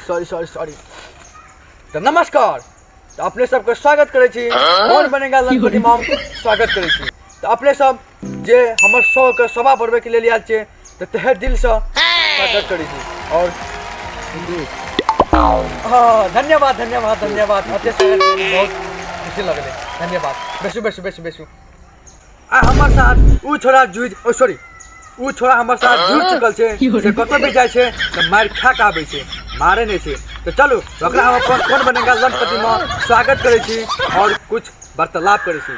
Sorry sorry sorry तऽ नमस्कार तऽ अपने सबके स्वागत करै छी कौन बनेगा लखपति मॉम स्वागत करै छी तऽ अपने सब जे हमर सौ के सभा बढ़बे के लेल आयल छै तऽ तहे दिल से स्वागत करै छी और हाँ, धन्यवाद धन्यवाद धन्यवाद अते स्वागत के लेल बहुत खुशी लगले धन्यवाद बेसू बेसू बेसू बेसू आ हमर साथ ऊ छोरा जुझ ओ सॉरी ऊ छोरा हमर साथ जुड़ चुकल छै से कतौ भी जाइ छै तऽ मारि खा के आबै छै मारे नहि छै तऽ चलू ओकरा हम अपन कोन बनेगा लंपति मे स्वागत करै छी और कुछ वार्तालाप करै छी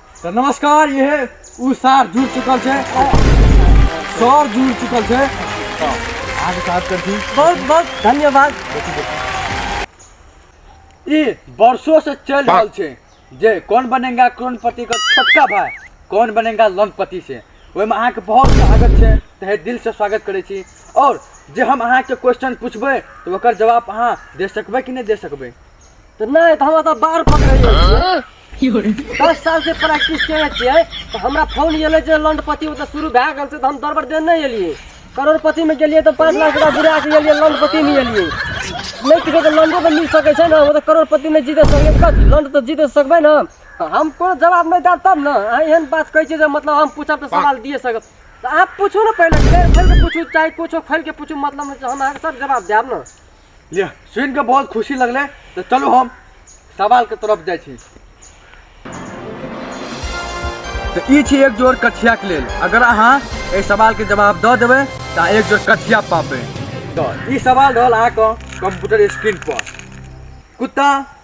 तो नमस्कार ये है उ सार जुड़ चुकल छे सर जुड़ चुकल छे आज साथ कर थी बहुत बहुत धन्यवाद ई वर्षों से चल रहल छे जे कौन बनेगा करोड़पति का छोटका भाई कौन बनेगा लंपति से ओहि में अहाँ के बहुत स्वागत छे तहे दिल से स्वागत करे छी और जे हम अहाँ के क्वेश्चन पूछबे तो ओकर जवाब अहाँ दे सकबे कि नहीं दे सकबे तो नहीं तो हम तो बार पकड़ रहे की हो दस साल से प्रैक्टिस करे छे तो हमरा फोन ये जे लंडपति वो तो शुरू भा गल से तो हम दरबर दे नहीं एलिए करोड़पति में गेलिए तो पाँच लाख रुपया बुरा के एलिए लंडपति में एलिए नहीं किसी तो लंडो तो मिल सके छे ना वो तो करोड़पति में जीते सके कथी लंड तो जीते सकबे ना तो हम कोनो जवाब नहीं देब तब ना अहाँ एहन बात कहै छियै जे मतलब हम पूछब तऽ सवाल दिए सकब तऽ अहाँ पूछू ने पहिले फेर खोलि कऽ पूछू चाहे कुछो खोलि कऽ पूछू मतलब नहि छै हम अहाँके सब जवाब देब ने लिअ सुनि कऽ बहुत खुशी लगलै तऽ चलू हम सवालके तरफ जाइ छी तऽ ई छी एक जोड़ कठियाके लेल अगर अहाँ एहि सवालके जवाब दऽ देबै तऽ अहाँ एक जोड़ कठिया पाबै तऽ ई सवाल रहल अहाँके कंप्यूटर स्क्रीन पर कुत्ता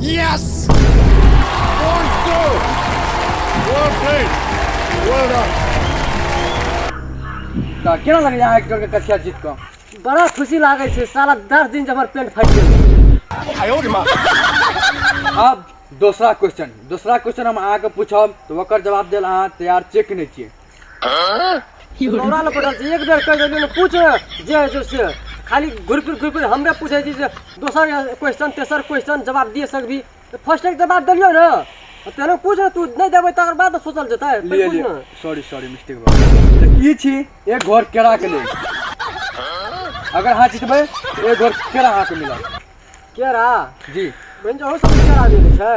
Yes! Four two. Well played. Well done. तऽ केना लगैया अहाँके टोलके कसिया जीत कऽ बड़ा खुशी लागै छै साला दस दिन जब हमर पेट फाटि गेल अब दोसरा क्वेश्चन दोसरा क्वेश्चन हम अहाँके पूछब तऽ ओकर जवाब देल अहाँ तैयार छियै कि नहि छियै नौरा लग पड़ल छै एक बेर कहि देलियै पूछ जे होइ छै से खाली घुरि फिर घुरि फिर हमरे पूछै छी जे दोसर क्वेश्चन तेसर क्वेश्चन जवाब दिए सकबी तऽ फर्स्ट एक जवाब देलियौ ने तेहनो पूछ ने तू नहि देबै तकर बाद ने सोचल जेतै पहिले पूछ ने सॉरी सॉरी मिस्टेक भऽ गेल तऽ ई छी एक घर केराके लेल अगर अहाँ जीतबै तऽ एक घर केरा अहाँके मिलत केरा जी बनि जाओ सब केरा जे छै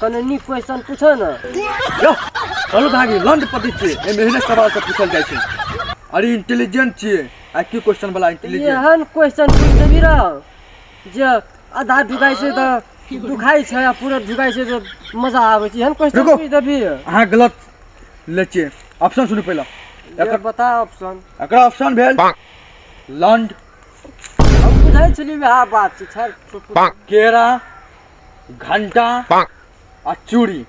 कने नीक क्वेश्चन पूछो ना यो चलू भागी लंड पति छी ए मेहनत सवाल से पूछल जाय छै अरे इंटेलिजेंट छी आ की क्वेश्चन वाला इंटेलिजेंट एहन क्वेश्चन पूछ देबी रह जे आधा ढुकाई छै तऽ दुखाई छै आ पूरा ढुकाई छै तऽ मजा आबै छै एहन क्वेश्चन रुको। पूछ देबी अहाँ गलत ले छियै ऑप्शन सुनू पहिले एकर बता ऑप्शन एकरा ऑप्शन भेल लंड हम बुझै छलियै वएह बात छै खैर केरा घंटा आ चूड़ी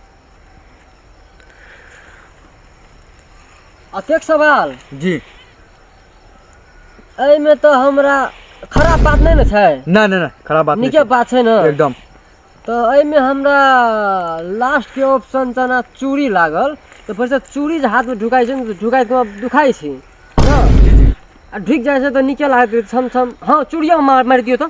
अतेक सवाल जी एहिमे तऽ हमरा खराब बात नहि ने छै नहि नहि नहि खराब बात नीके बात छै ने एकदम तऽ एहिमे हमरा लास्टके ऑप्शन जेना चूड़ी लागल तऽ फेरसँ चूड़ी जे हाथमे ढुकाइ छै ने ढुकाइ तऽ दुखाइ छै आ ढुकि जाइ छै तऽ नीके लागत छम छम हँ चूड़ियो मारि दियौ तऽ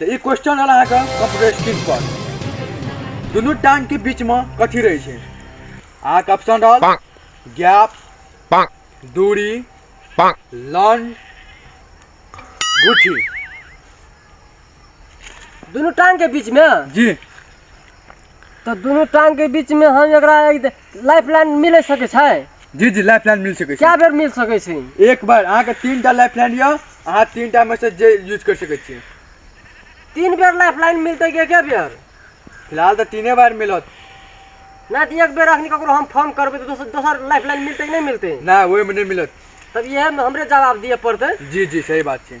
तऽ ई क्वेश्चन रहल अहाँके कंप्यूटर स्क्रीन पर दुनू टांग के बीच में कथी रहै छै अहाँके ऑप्शन रहल गैप दूरी लंड गुठी दुनू टांग के बीच में जी तो दोनों टांग के बीच में हम एकरा लाइफ लाइन मिल सके छै जी जी लाइफ लाइन मिल सके छै क्या बेर मिल सके छै एक बार अहाँ के तीन टा लाइफ लाइन यो अहाँ तीन टा में से जे यूज कर सके छी तीन बेर लाइफ लाइन मिलते के क्या बेर फिलहाल तो तीने बार मिलत ना तो एक बेर अखनी ककरो हम फोन करबे तो दोसर दोसर लाइफ लाइन मिलते कि नहीं मिलते ना ओए में नहीं मिलत तब ये हमरे जवाब दिए पड़ते जी जी सही बात छै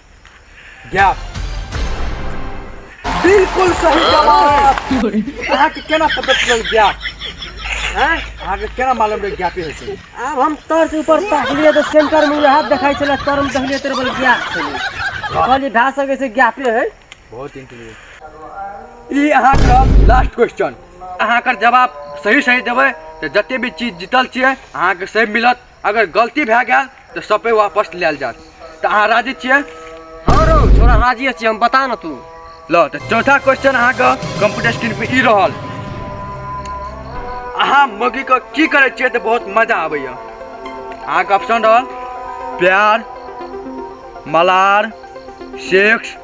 गैप बिल्कुल सही जवाब अहाँ के केना पता चलल गैप हैं अहाँ के केना मालूम रहे गैप ही होते आब हम तर से ऊपर तकलिए तो सेंटर में हाथ देखाई चला तर में तकलिए तेरे बल गया कहलिए भा सके से गया पे है बहुत इंटरेस्ट ई अहाँ के लास्ट क्वेश्चन अहाँ के जवाब सही सही देबै तऽ जते भी चीज जीतल छियै अहाँ के सही मिलत अगर गलती भए गेल तऽ सपे वापस लेल जात तऽ अहाँ राजी छियै हँ रौ छोरा राजिए छियै हम बता ने तू ल तऽ चौथा क्वेश्चन अहाँके कंप्यूटर स्क्रीन पर ई रहल अहाँ मौगीके की करै छियै तऽ बहुत मजा आबैए अहाँके ऑप्शन रहल प्यार मलार सेक्स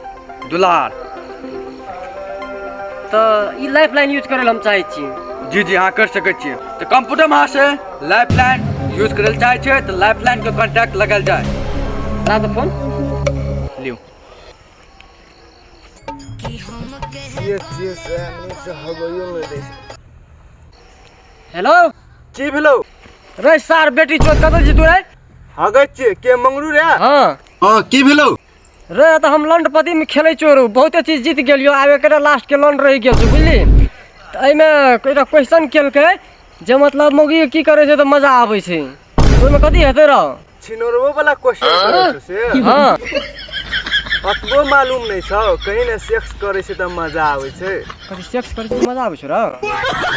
दुलार तऽ ई लाइफ लाइन यूज करय लए हम चाहै छी जी जी अहाँ करि सकै छियै तऽ कंप्यूटरमे अहाँसँ लाइफ लाइन यूज करै लए चाहै छियै तऽ लाइफ लाइनके कॉन्टैक्ट लगायल जाय ला तऽ फोन लियौ Yes, yes, I need to have a unit. Hello की भेलो रे सार बेटी चोद कतऽ छी तू रे हगै छियै के मंगरू रे हाँ हाँ की भेलो रे तऽ हम लंडपति में खेलै छियौ रे बहुते चीज जीत गेलियो आब एकरे लास्ट के लंड रहि गेल छै बुझली तऽ एहिमे एकटा क्वेश्चन केलकै जे मतलब मौगी की करै छै तऽ मजा आबै छै ओहिमे कथी हेतै रौ छिनोरबो वाला क्वेश्चन करै छौ से हँ अतबो मालूम नहीं छौ कहीं ने सेक्स करे से त मजा आवे छै कथी सेक्स करे से मजा आवे छै रौ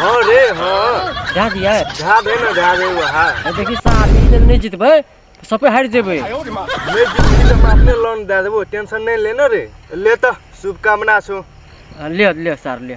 हां रे हां जा दिया जा दे ना जा दे वहा देखी साथ ही नहीं जीतबे तो सबे हार जेबे नहीं जीतबे त हम अपने लोन दे देबो टेंशन नहीं लेना रे ले त शुभकामना छौ ले ले सर ले